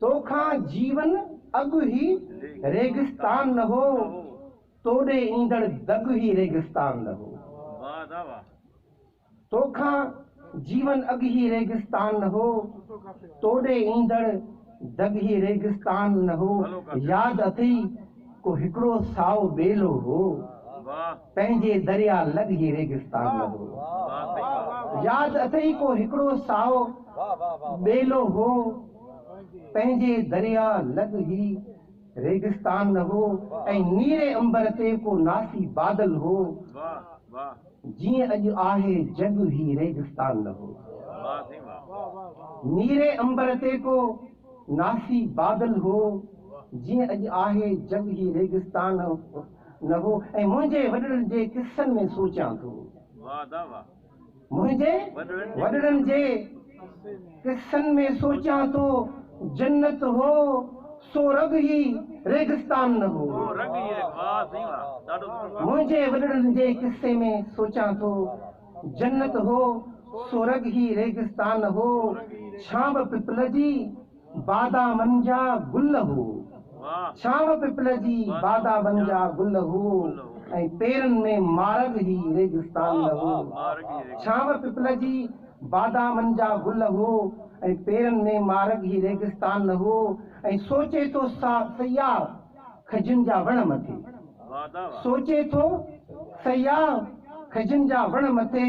تو کان جيون اڳ هي ريگستان نه هو، تو ڏي ايندڙ دڳ هي ريگستان نه هو. تو کان جيون اڳ هي ريگستان نه هو، تو ڏي ايندڙ دڳ هي ريگستان نه هو. ياد اٿئي ڪو هڪڙو سائو ٻيلو هو. پنهنجي دريا لڳ هي ريگستان لڳو. ياد اٿئي ڪو هڪڙو سائو ٻيلو هو. پنهنجي دريا لڳ هي ريگستان لڳو ۽ نيري عنبر تي ڪو ناسي بادل هو. جيئن اڄ آهي جڳ هي ريگستان لڳو. نيري عنبر تي ڪو ناسي بادل هو. جيئن اڄ آهي جڳ هي ريگستان. نه هو ۽ منهنجي وڏڙن جي قصن ۾ سوچيان ٿو. منهنجي وڏڙن جي قصن ۾ سوچيان ٿو جنت هو سو رڳ هي ريگستان نه هو. منهنجي وڏڙن جي قصي ۾ سوچيان ٿو جنت هو سو رڳ هي ريگستان نه هو. ڇانب پپل جي بادا منجا گل هو ڇانو پپل جي بادا منجا گل هو ۽ پيرن ۾ مارڳ هي ريگستان نه هو ڇانو پپل جي بادا منجا گل هو ۽ پيرن ۾ مارڳ هي ريگستان نه هو ۽ سوچي ٿو سياح کجين جا وڻ مٿي سوچي ٿو سياح کجين جا وڻ مٿي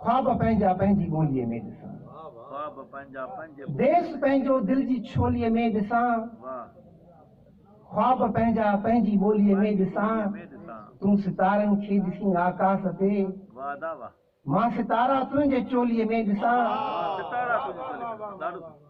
خواب پنهنجا پنهنجي ٻوليء ۾ ڏسان. ديس پنهنجو دل جي ڇوليء ۾ ڏسان. خواب پنهنجا پنهنجي ٻوليء ۾ ڏسان. تون ستارن کي ڏسين آڪاس تي. مان ستارا تنهنجي چوليء ۾ ڏسان.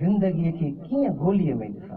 زندگيء کي ڪيئن گوليء ۾ ڏسان.